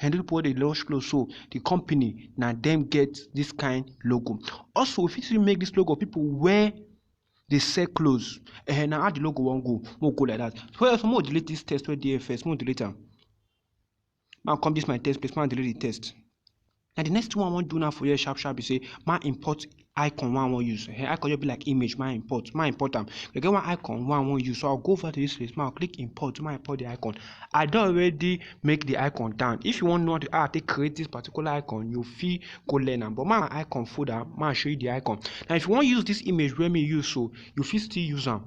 and people wey dey launch clothes so the company na dem get this kind logo also we fit still make this logo of people wey dey sell clothes eh na how the logo wan go make we go like that so also make we delete this text wey dey here first make we delete am make i come this my text place make i delete the text na the next thing wey i wan do now for here sharp sharp be say make i import icon wey I wan use, um icon just be like image make I import, make I import am. E get one icon wey I wan use, so I go over to dis place, make I click import, make I import de icon. I don already make de icon down. If you wan know how I take create dis particular icon, you fit go learn am, but make I icon folder, make I show you de icon. Now, if you wan use dis image wey me use so, you fit still use am.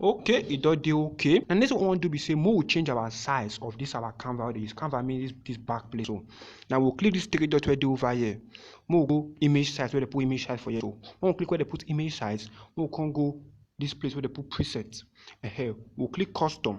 okay e don dey okay and next one we wan do be say make we change our size of this our canvas wey dey use canvas mean this this back place so now we we'll click this three dot wey dey over here make we go image size wey dey put image size for here so when we click where dey put image size make we come go this place wey dey put preset uh -huh. we we'll click custom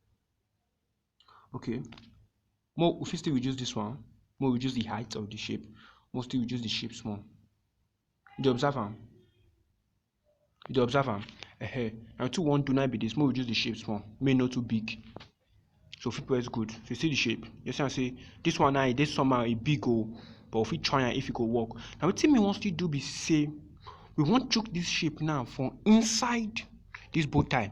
okay more we fit still reduce this one more reduce the height of the shape more still reduce the shape small you dey observe am you dey observe am uh-huh. na two one do na be this more reduce the shape small make e no too big so we fit press good so you see the shape you see am say this one now e dey somehow e big o but we fit try am if e go work na wetin me wan still do be say we wan chook this shape now for inside this bow tie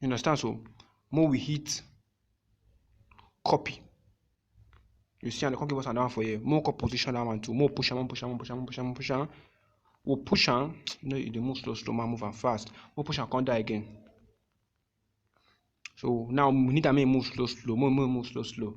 You understand so? Make we hit copy. You see, and they come give us another one for here. More come position that one too. More push am, push am, push am, push am, push am. We push am. No, you dey move slow, slow, man, move am fast. We push am, come die again. So now we need am make e move slow, slow. More, more, move slow, slow.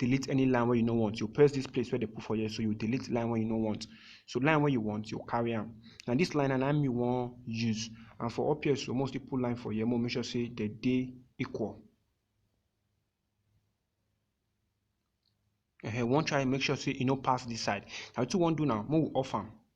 delete any line wey you no want. You press this place where they put for here, so you delete line wey you no want. So line wey you want, you carry am. Now this line na me wan use. And for up here, so most people line for here, more make sure say they dey equal. Uh -huh. One try make sure say e no pass this side. Now what you wan do now, make we off am.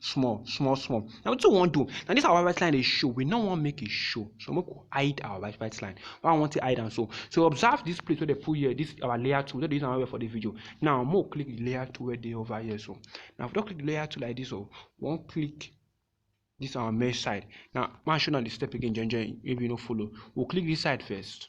small small small na wetin we wan do na this our white white line dey show we no wan make e show so make we hide our white white line why we wan take hide am so so observe this place wey dem put here this our layer tool we no dey use am well well for this video now make we click the layer tool wey dey over here so now if we don click the layer tool like this o we wan click this our mesh side now make i show una the step again join join maybe you no follow we click this side first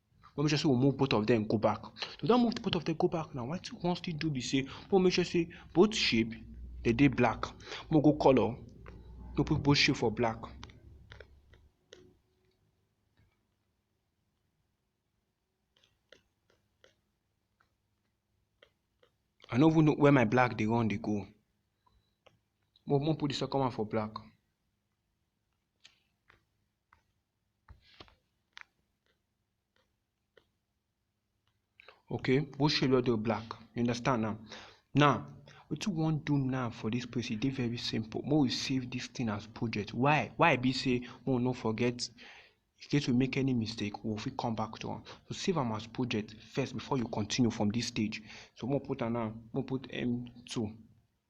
we make sure say we move both of them go back we don move both of them go back now wetin we wan still do be say we make sure say both shape they dey black we go color we put both shape for black I no even know where my black dey run dey go. Mo mo put the second one for black. okay both shade wey dey black you understand now now wetin we wan do now for this place e dey very simple make we save this thing as project why why e be say make we no forget in case we make any mistake we go fit come back to am so save am as project first before you continue from this stage so make we put am now make we put m2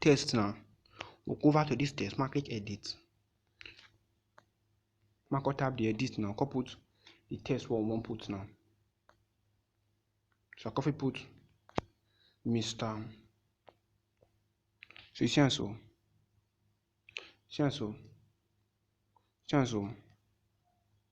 Text now, we go over to dis text make I click edit, make I come tap di edit now come put di text wey we wan put now. So I come fit put Mister, so you see am so, see am so, see am so.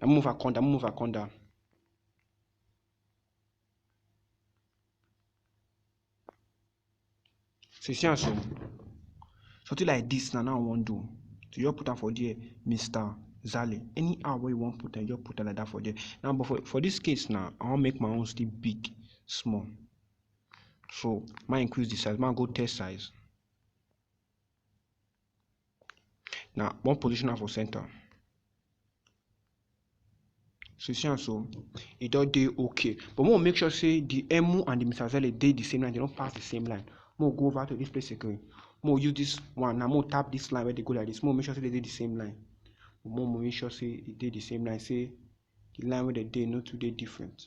Let me move her corner. Let me move her corner. So you see am so? Something like this na now I wan do. So you just put am for there, Mr. Zale. Anyhow wey you wan put am, you just put am like that for there. Now, but for, for this case now, I wan make my own still big, small. So, ma increase the size, ma go test size. na one position am for center so you see am so e don dey okay but make we make sure say the emu and the misazele dey the same line dem no pass the same line make we go over to this place again make we use this one now make we tap this line wey dey go like this make we make sure say dem dey the same line make we make sure say e dey the same line say the line wey dem dey no too dey different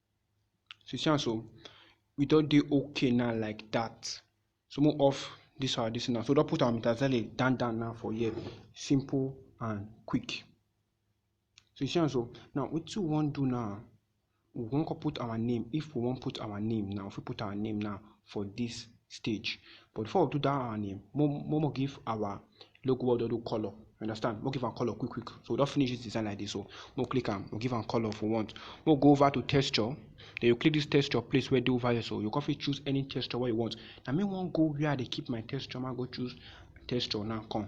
So see am so, we don dey okay now like that. So make we off this our this now. So we don put our metazele down down now for here. Simple and quick. So you see am so now wetin we wan do now we wan come put our name if we wan put our name now we fit put our name now for this stage but before we do that our name mo mo give our logo wey we don do colour you understand make we give am colour quick quick so we don finish this design like this so make we click am we give am colour if we want make we go over to texture then you click this texture place wey dey over here so you come fit choose any texture wey you want na me wan go where i dey keep my texture ma go choose texture now come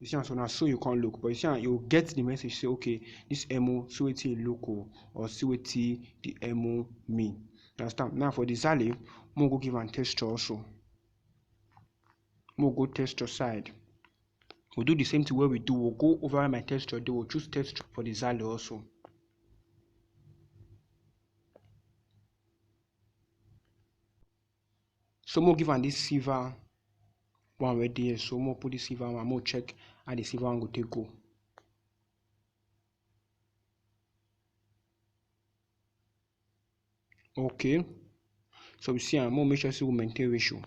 You see am so na so you come look but you see am you get the message say okay this emo see wetin e look o or see wetin the emo mean. You understand? Now for the Zale, mo go give am texture also. Mo go texture side. We'll do the same thing where we do. We'll go over my texture. They will choose texture for the Zale also. So make we give am this silver one wey dey here so make we put this silver one make we check how the silver one go take go. Okay so we see am make we make sure say we maintain ratio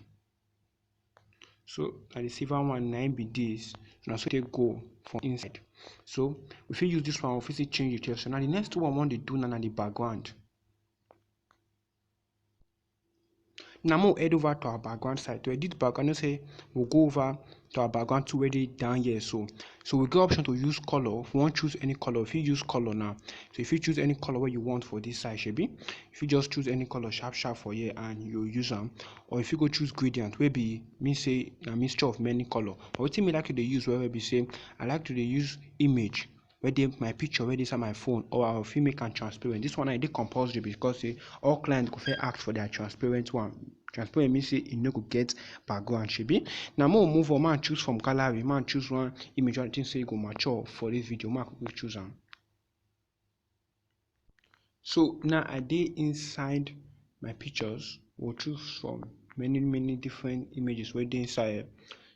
so na the silver one na im be this so na so e take go for inside so we fit use this one we fit still change the texture. Now the next one we wan dey do now na the background. Now more head over to our background side. To edit background, you say we'll go over to our background to where they down here. So so we get option to use color. If you want choose any color, if you use color now. So if you choose any color where you want for this side, should be if you just choose any color sharp sharp for here and you use them. Or if you go choose gradient, where be me say a mixture of many color. But what me like to use where we say I like to use image wey dey my picture wey dey inside my phone or I fit make am transparent. Dis one now e dey compulsory because sey all client go fit ask for their transparent one. Transparent mean sey e no go get background shebi. Na make we move on make I choose from gallery make I choose one image wey I think sey e go mature for dis video make I quickly choose am. So now I dey inside my pictures or choose from many many different images wey dey inside here.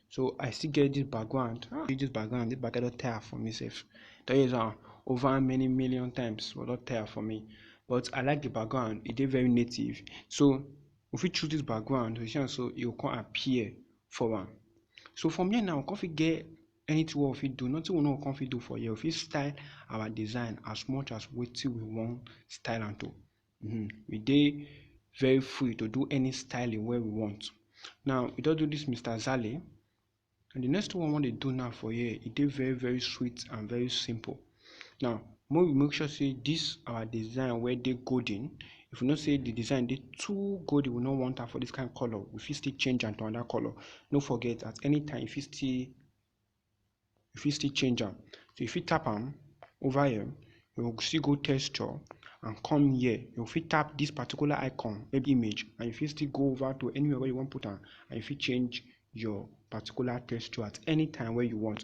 So I still get this background. Ah, this background, this background don tire for me sef. Don use am over many million times, but don tire for me. But I like the background, e dey very native. So we fit choose this background, you see am so e go come appear for am. So from here now, we come fit get anything wey we fit do, nothing we no go come fit do for here. We fit style our design as much as wetin we wan style am to. Mm-hmm. We dey very free to do any styling wey we want. Now, we don do this Mr. Zale. And the next one we wan dey do now for here, e dey very very sweet and very simple. Now, make we make sure say this our design wey dey golden, if we know say the design dey too golden, we no want am for this kind color, we fit still change am to another color. No forget at any time you fit still you fit still change am. So you fit tap am over here, you go still go texture and come here. You go fit tap this particular icon, maybe image, and you fit still go over to anywhere where you wan put am and you fit change your particular texture at any time wey you want.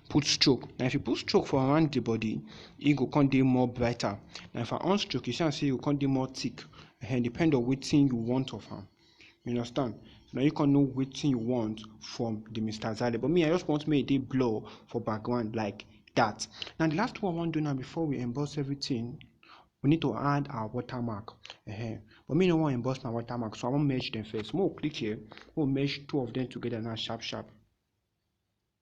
put stroke na if you put stroke for around the body e go come dey more brighter na if i on stroke you see am say e go come dey more thick and depend on wetin you want of am you understand na you come know wetin you want from the mr zale but me i just want make e dey blur for background like that na the last one i wan do now before we emboss everything we need to add our watermark uh -huh. but me no wan emboss my watermark so i wan merge them first make we click here make we merge two of them together now sharp sharp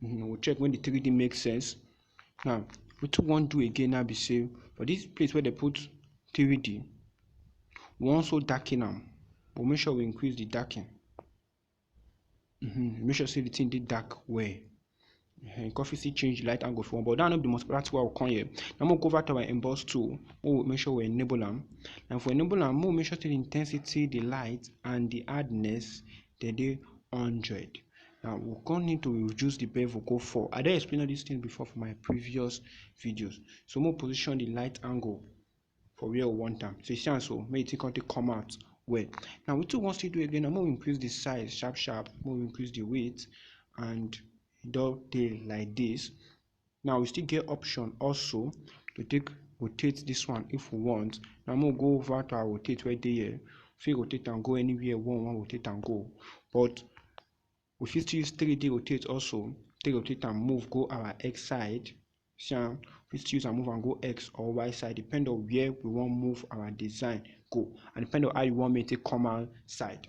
mm -hmm. we'll check when the 3d makes sense now wetin we wan do again now be say for this place where they put 3d we wan so darken am but make sure we increase the darken mm -hmm. make sure say the thing dey dark well mm -hmm. coffee still change light angle for one but that no be the most practical one come here now we go over to our emboss tool make we make sure we enable am and for enable am make we make sure say the intensity the light and the hardness dem dey hundred now we come need to reduce the bevel go four i don explain all these things before for my previous videos so make we position the light angle for where we want am so you see am so make the thing come take come out well now wetin we wan still do again na make we increase the size sharp sharp make we increase the weight and e don dey like this Now we still get option also to take rotate this one if we want. Now I'm gonna go over to our rotate right there. Here. Fit rotate and go anywhere one one rotate and go. But we fit use 3D rotate also. Take rotate and move go our x side. See am? We fit use and move and go x or y side depend on where we wan move our design go and depend on how you wan make it come outside.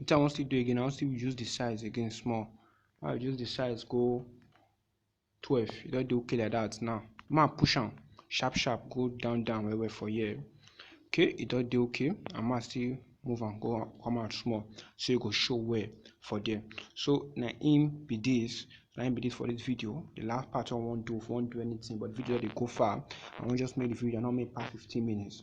Wetin I wan still do again, I wan still reduce the size again small. Make I reduce the size go twelve. E don dey okay like that now. Make I push am sharp sharp go down down well well for here. Okay, e don dey okay and make I still move am go come out small so e go show well for there. So na im be this. Na im be this for this video. The last part wey I wan do, if I wan do anything but the video don dey go far, I wan just make the video, I no wan make e pass fifteen minutes.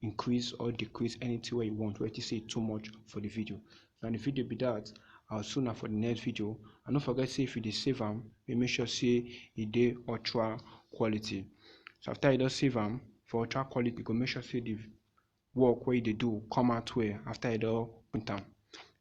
increase or decrease anything wey you want wey you think say e too much for the video na the video be that i will see una for the next video and no forget say if you dey save am dey make sure say e dey ultra quality so after you don save am for ultra quality you go make sure say the work wey you dey do come out well after you don print am